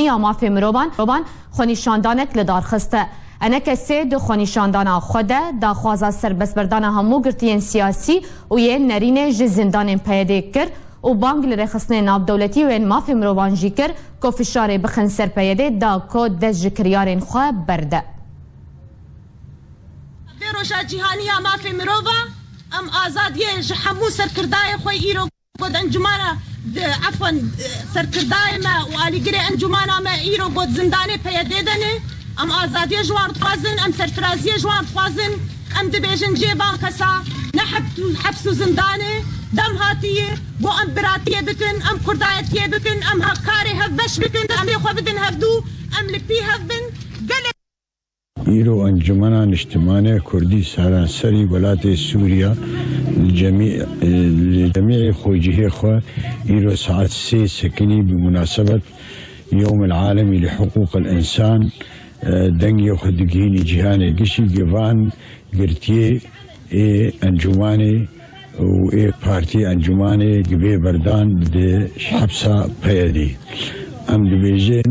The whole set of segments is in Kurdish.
ya mafê mirovan xwenîşandanek li dar xiste. Enekesê di xwenîşandana xwe de daxwaza serbestberdana hemû girtiyên siyasî û yên nerînê ji zindanên PYD'ê kir û bang li rêxistinên navdewletî û yên mafê mirovan jî kir ku fişarê bixin ser PYD'ê da ku dest ji kiryarên xwe berde. Di vê roja cîhanî ya mafê mirovan em azadiyê ji hemû serkirdayê xwe îro. Got encumana di efwan serkirdayê me û alîgirê encumana me îro got zindanê PYD'ê de ne. Em azadiyê ji wan dixwazin, em serfiraziyê ji wan dixwazin. Em dibêjin cihê van kesa ne heps û zindan e. Dem hatiyê bo em biratiyê bikin, em kurdayetiyê bikin, em hevkarê hevbeş bikin, destê xwe bidin hevdu, em li pî hev bin. Gelê. Îro Encûmena Niştimanê Kurdî seranserî welatê Sûriya li cemiyê xwecihê xwe îro saet sê sekinî bi munasebet Yewmil Alemî li Hiqûqil Însan dengê xwe digihînî cîhanê. Gişîgê van girtiyê ê encûmanê û ê partiyê encûmanê gi vê berdan di hepsa PYD'ê em dibêjin,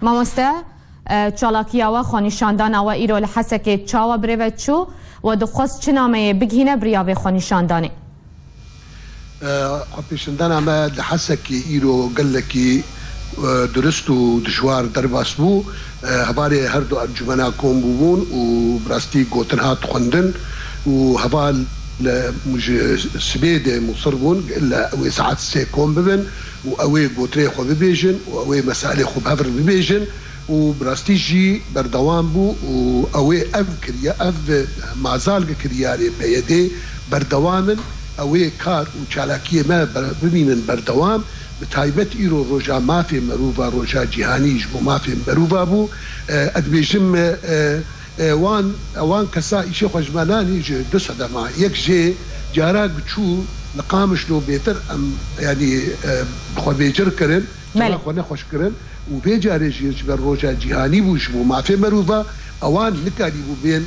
Mamoste, çalakiya we, xwenîşandana we îro li Hesekê çawa birêve çû? We dixwest çi nameyê bigihîne biriya vê xwenîşandanê? Xwepêşandana me li Hesekê îro gelekî durist û dijwar derbas bû. Hevalê her du encûmena kom bûbûn û bi rastî gotin hat xwendin û heval ji sibê de musir bûn li wê saet sê kom bibin. û ew ê gotirê xwe bibêjin û ew ê mesailê xwe bi hev re bibêjin û bi rastî jî berdewam bû û ew ê ev kiriya ev mazalge kiriyarê PYDê berdewam in, ew ê kar û çalakiyê me bimînin berdewam, bi taybet îro roja mafê merûva roja cîhanî ji bo mafê merûva bû, ez dibêjim. Wan wan kesa îşê xwe ji me nanî ji du sedema yek jê cara giçû li Qamişlo bêtir em yanî bi xwe bêcirg kirin, cara xwe nexweş kirin û vê carê jî ji ber roja cîhanî bû ji bo mafê merûva wan nikarîbû bên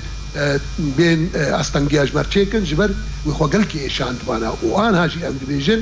bên astengiya ji ber çêkin ji ber wê xwe gelkî êşandibana û anha jî em dibêjin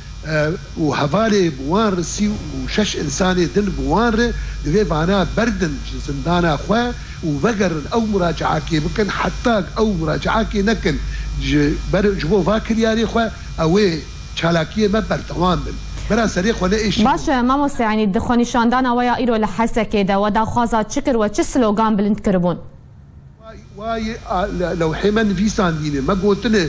û hevalê bi wan re sî û şeş însanê din bi wan re divê vana berdin ji zindana xwe û vegerin ew muracaakê bikin heta ku ew muracaakê nekin ji ber ji bo va kiryarê xwe ew ê çalakiyê me berdewam bin bira serê xwe ne êşî Baş e mamoste yanî di xwenîşandana we ya îro li Hesekê de we daxwaza çi kir we çi slogan bilind kiribûn? Wa yê lewhê me nivîsandîne, me gotine,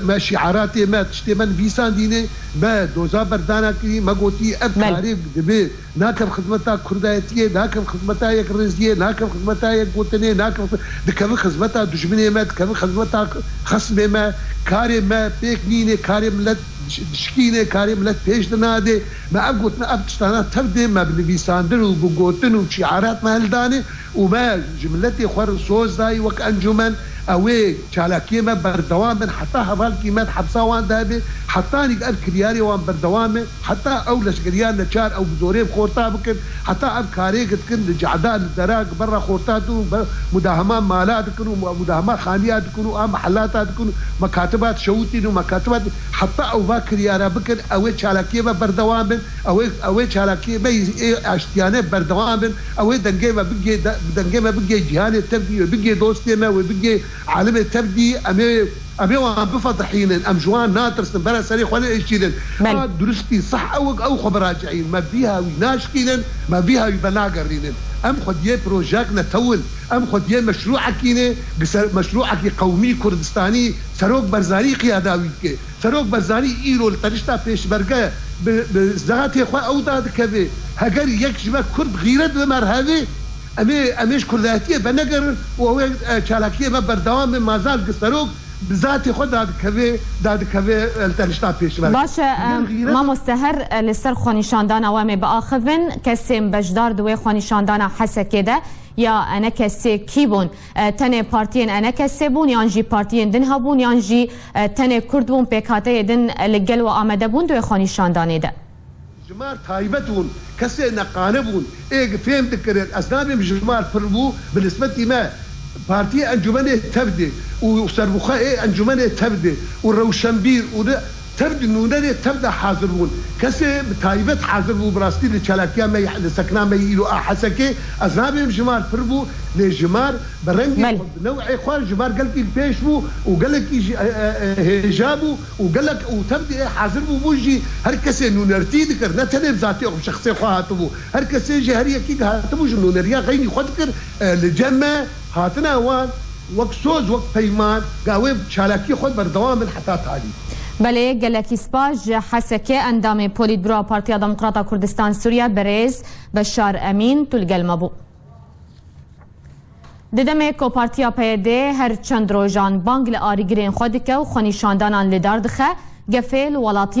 me şîaratê me, tiştê me nivîsandîne, me doza berdana kirî, me gotî ev karê dibe, nakev xizmeta kurdayetiyê, nakev xizmeta yekrêziyê, nakev xizmeta yekgotinê, nakev, dikevin xizmeta dijminê me, dikevin xizmeta xismê me, karê me pêk nîne, karê milet dişikîne, karê milet pêş dinade, me ev gotine, ev tiştana tev de me bi nivîsandin û bi gotin û bi şîarat me hildane, Û me ji miletê xwe re soz dayî wek encûmen, ew ê çalakiyên me berdewam bin heta hevalkî me di hepsa wan de hebe, hetanîk ev kiryarê wan berdewam e, heta ew leşkeriya neçar ew bi zorê bi xorta bikin, heta ev karê ke dikin li Cehda, li Dera, li Berra Xorta tu mudahama mala dikin û mudahama xaniya dikin û a mihelata dikin û me katiba dişewitîn û me katiba heta ew va kiryara bikin, ew ê çalakiyên me berdewam bin, ew ê ew ê çalakiyên me yê aştiyane berdewam bin. Ew ê dengê me bigê dengê me bigê cîhanê tevdî, wê bigê dostê me, wê bigê alimê tevdî. Em ê em ê wan bifedihînin. Em ji wan natirsin. Bere serê xwe nêeşînin. A duristî sah ewg ew xwe biraceîn. Me vîha wî naşkînin. Me vîha wî venagerînin. Em xwediyê projeyek ne tew in. Em xwediyê meşrûekî ne. Gi ser meşrûekî qewmî, kurdistanî, serok Berzanî qiyada wî dike. Serok Barzanî îro li tenişta pêşmerge bi bi zatê xwe ew da dikeve, Heger yek ji me kurd xîret bibe li hevê, em ê em ê ji kurdaitiyê venegerin û ew ê çalakiyê me berdewam be, ma zat ku serok bi zatê xwe da dikeve da dikeve li tenişta pêşmerge. Baş e mamoste her li ser xwenîşandana we em ê biaxivin, kesên beşdar di wê xwenîşandana Hesekê de ya ne kesê kî bûn? Tenê partiyên enekesê bûn yan jî partiyên din hebûn yan jî tenê Kurd bûn pêkhateyê din li gel we amede bûn di wê xwenîşandanê de? Jimar taybet bûn, kesê neqane bûn. Ê gi fêm dikirin ez nabêm jimar pir bû bi nisbetî me. Partiyê encûmenê tevdê û serbixwe ê encûmenê tevdê û rewşenbîr û Tev di nûnerê tev de hazir bûn. Kesê bi taybet hazir bû bi rastî li çalakiya me yê li sekna me yê îro a Hesekê. Ez nabêm jimar pir bû lê jimar bi rengê xwe bi new'ê xwe jimar gelkî li pêş bû û gelekî jî hêja bû û gelek û tev diê hazir bû bû jî her kesê nûnertî dikir ne tenê bi zatî xwe şexsê xwe hatibû her kesê jî her yekî hatibû ji nûneriya xeynî xwe dikir li cem me Hatina wan wek soz wek peyman ga wê bi çalakiyê xwe berdewam bin heta talî. Belê gelekî spas ji Hesekê endamê Polîtbura Partiya Demokrata Kurdistan Sûriye Birêz Beşar Emîn tu li gel me bû. Di demê ku Partiya PYD her çend rojan bang li arîgirên xwe dike û xwenîşandanan lidar dixe, gefê li welatiyê